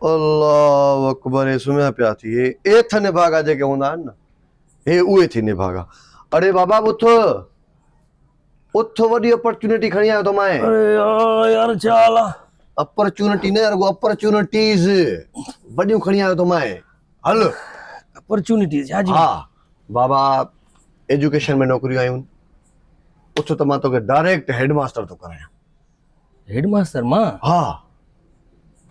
الله اڪبر هي سمهيا پيا ٿي هي ايٿ نڀاڳا جيڪي هوندا آهن نه هي اهي ٿي نڀاڳا اڙي بابا اٿ اٿ وڏي اپرچونٽي کڻي آيو ٿو مائي اڙي يار ڇا حال آ اپرچونٽي نه رڳو اپرچونٽيز وڏيون کڻي آيو ٿو مائي هل اپرچونٽيز ڇا جي ها بابا ايجوڪيشن ۾ نوڪريون آيون اٿ ته مان توکي ڊائريڪٽ هيڊ ماستر ٿو ڪرايان هيڊ ماستر مان؟ ها.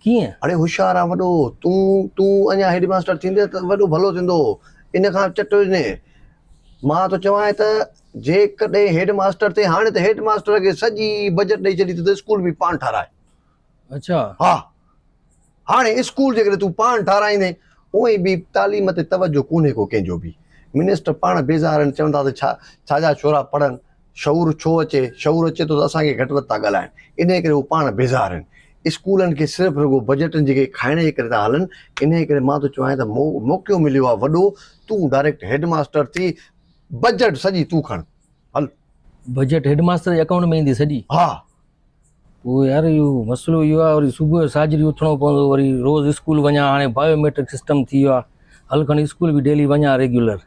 ڪيئن؟ اڙي هوشيار آهين وڏو تون، تون اڃا هيڊ ماستر ٿيندين ته وڏو ڀلو ٿيندو، ان کان چٽ وجهندين. مان ٿو چوانء ته جيڪڏهن هيڊ ماستر ٿئين هاڻي ته هيڊ ماستر کي سڄي بجيٽ ڏئي ڇڏي ته اسڪول به پاڻ ٺاراهي. اڇا. ها. هاڻي اسڪول جيڪڏهن تون پاڻ ٺاهرائيندين، اونئين به تعليم تي توجهه ڪونهي ڪو ڪنهن جو به. منسٽر پاڻ بيزار آهن، چون ٿا ته ڇا ڇا جا ڇورا پڙهن، شعور ڇو اچي، شعور اچي ٿو ته اسان کي گهٽ وڌ ٿا ڳالهائن، انهيء ڪري هو پاڻ بيزار آهن. اسڪولن کي صرف رڳو بجيٽن جيڪي کائڻ جي ڪري ٿا هلن، انهيء ڪري مان ٿو چواين ته موقعو مليو آهي وڏو، تون ڊائريڪٽ هيڊ ماستر ٿي، بجيٽ سڄي تون کڻ. هل! بجيٽ هيڊ ماستر جي اڪائونٽ ۾ ايندي سڄي؟ ها! پوء يار اهو مسئلو اهو آهي وري صبح جو ساجھري اٿڻو پوندو وري روز اسڪول وڃان هاڻي بايو ميٽرڪ سسٽم ٿي ويو آهي هل کڻ اسڪول به ڊيلي وڃان ريگيولر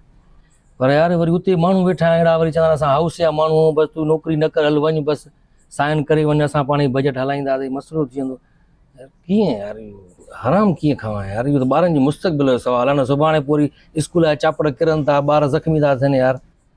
پر يار وري اتي ماڻهو ويٺا آهن اهڙا وري چوندا اسان هائوس جا ماڻهو آهيون بس تون نوڪري نه ڪر هل وڃ بس سائن ڪري وڃ اسان پاڻ ئي بجيٽ هلائينداسين مسئلو ٿي ويندو يار ڪيئن يار اهو حرام ڪيئن کائان يار اهو ته ٻارن جي مستقبل جو سوال آهي نه سڀاڻي پوء وري اسڪول جا چاپڙ ڪرن ٿا ٻار زخمي ٿا ٿين يار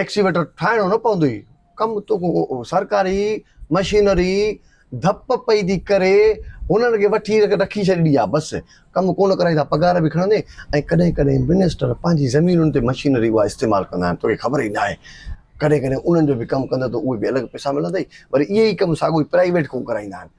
ايڪسيويٽر ٺاهڻو نه پوندو هي ڪم توکو سرڪاري مشينري ڌپ پئي ٿي ڪري هنن کي وٺي رکي ڇڏي آ بس ڪم ڪونه ڪرائيندا پگهار به کڻندي ۽ ڪڏهن ڪڏهن منسٽر پنهنجي زمينن تي مشينري اها استعمال ڪندا آهن توکي خبر ئي نه آهي ڪڏهن ڪڏهن انهن جو به ڪم ڪندء ته اهي به الڳ پئسا ملندئي وري اهي ئي ڪم ساڳو ئي پرائيويٽ کان ڪرائيندا آهن.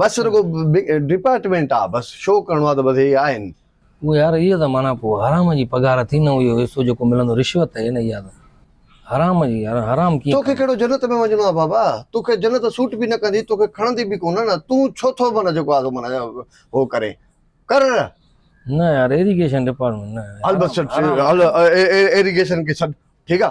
بس رڳو ڊپارٽمينٽ آ بس شو ڪرڻو آ ته بس هي آهن. اوهه يار اها ته معنيٰ پوء حرام جي پگهار ٿي نه اهو حصو جيڪو ملندو رشوت هي نه اها ته حرام جي يار حرام ڪيئن توکي ڪهڙو جنت ۾ وڃڻو آ بابا توکي جنت سوٽ به نه ڪندي توکي کڻندي به ڪونه نه تون ڇو ٿو معنيٰ جيڪو آ سو معنيٰ هو ڪرين ڪر نه يار ايريگيشن ڊپارٽمينٽ نه هل بس ايريگيشن کي ڇڏ ٺيڪ آ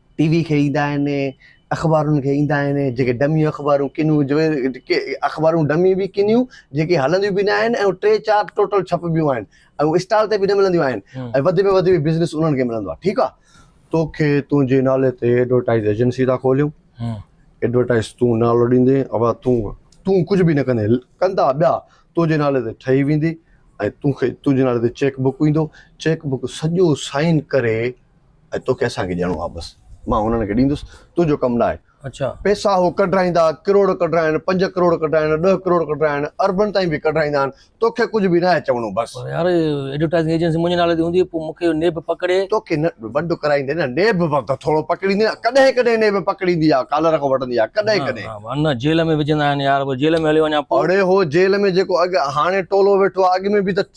ٽي وي کي ايندا آهن اخبارن کي ايندا آهن جيڪي ڊمي اخبارون ڪنيون جو اخبارون ڊمي به ڪنيون جيڪي هلنديون به نه آهن ۽ ٽي چار ٽوٽل ڇپبيون آهن ۽ هو اسٽال تي به نه ملنديون آهن ۽ وڌ ۾ وڌ به بزنس انهن کي ملندو آهي ٺيڪ آهي توکي تنهنجي نالي تي ايڊورٽائز ايجنسي ٿا کوليون ايڊورٽائز تون نالو ڏيندي اوا تون تون ڪجهه به نه ڪندي ڪندا ٻيا تنهنجي نالي تي ٺهي ويندي ۽ تون کي تنهنجي نالي تي چيڪ بڪ ايندو چيڪ بڪ سڄو سائن ڪري ۽ توکي اسان کي ڏيڻو آهي بس مان انهن کي ڏيندس تنهنجو ڪم نه آهي اڇا پئسا هو ڪڍرائيندا ڪروڙ ڪڍرائن پنج ڪروڙ ڪڍرائن ڏهه ڪروڙ ڪڍرائن اربن تائين به ڪڍرائيندا آهن توکي ڪجهه به نه آهي چوڻو بس پر يار ايڊورٽائزنگ ايجنسي منهنجي نالي تي هوندي پوء مونکي اهو نيب پڪڙي توکي نه ونڊ ڪرائيندي نه نيب ته ٿورو پڪڙيندي نه ڪڏهن ڪڏهن نيب پڪڙيندي آهي ڪالر کان وٺندي آهي ڪڏهن نه ڪڏهن نه نه جيل ۾ وجهندا آهن يار پوء جيل ۾ هليو وڃان پوء اڙي هو جيل ۾ جيڪو اڳ هاڻي ٽولو ويٺو آهي اڳ ۾ به ته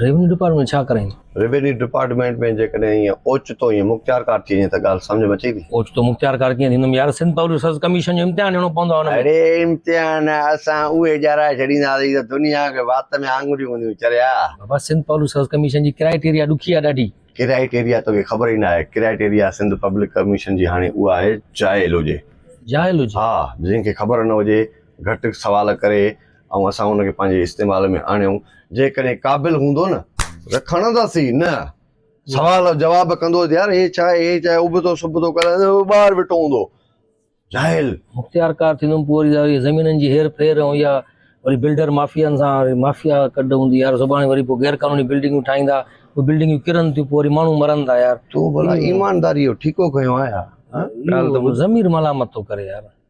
ريونيو ڊپارٽمينٽ ڇا ڪرائين؟ ريونيو ڊپارٽمينٽ ۾ جيڪڏهن ائين اوچتو ائين مختيارڪار ٿي وڃي ته ڳالهه سمجهه ۾ اچي ٿي؟ اوچتو مختيارڪار ڪيئن ٿيندم يار سنڌ پبلڪ سروس ڪميشن جو امتحان ڏيڻو پوندو آهي ان ۾. اڙي امتحان اسان اهي ڄارائي ڇڏينداسين ته دنيا کي وات ۾ آڱريون هونديون چريا. بابا سنڌ پبلڪ سروس ڪميشن جي ڪرائيٽيريا ڏکي آهي ڏاڍي. ڪرائيٽيريا توکي خبر ئي نه آهي ڪرائيٽيريا سنڌ پبلڪ ڪميشن جي هاڻي اها آهي جاهل هجي. جاهل هجي. ها جنهن کي خبر نه هجي گهٽ سوال ڪري ۽ اسان ان کي پنهنجي استعمال ۾ آڻيون، جيڪڏهن قابل هوندو نه ته کڻنداسين نه. سوال جو جواب ڪندو ته يار هي ڇا هي ڇا ابتو سبتو ڪري ته ٻاهر ويٺو هوندو جاهل. مختيارڪار ٿيندم پوء وري وري زمينن جي هير ڦير ۽ يا وري بلڊر مافيائن سان وري مافيا ڪڍ هوندي يار سڀاڻي وري پوء غير قانوني بلڊنگون ٺاهيندا اهي بلڊنگون ڪرن ٿيون پوء وري ماڻهو مرن ٿا يار. تون ڀلا ايمانداريء جو ٺيڪو کنيو آهي ها. ها ڳالهه ته ٻڌ. ضمير ملامت ٿو ڪري يار.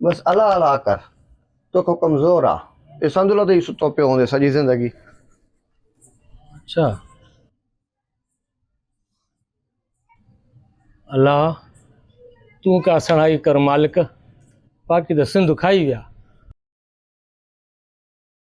بس الا الا ڪر توکان ڪمزور آ. اي سندھ لوڌي ستو پيو هوندي سڄي زندگي. اچا الا تون ڪا سڻائي ڪر مالڪ باقي ته سنڌ کائي ويا.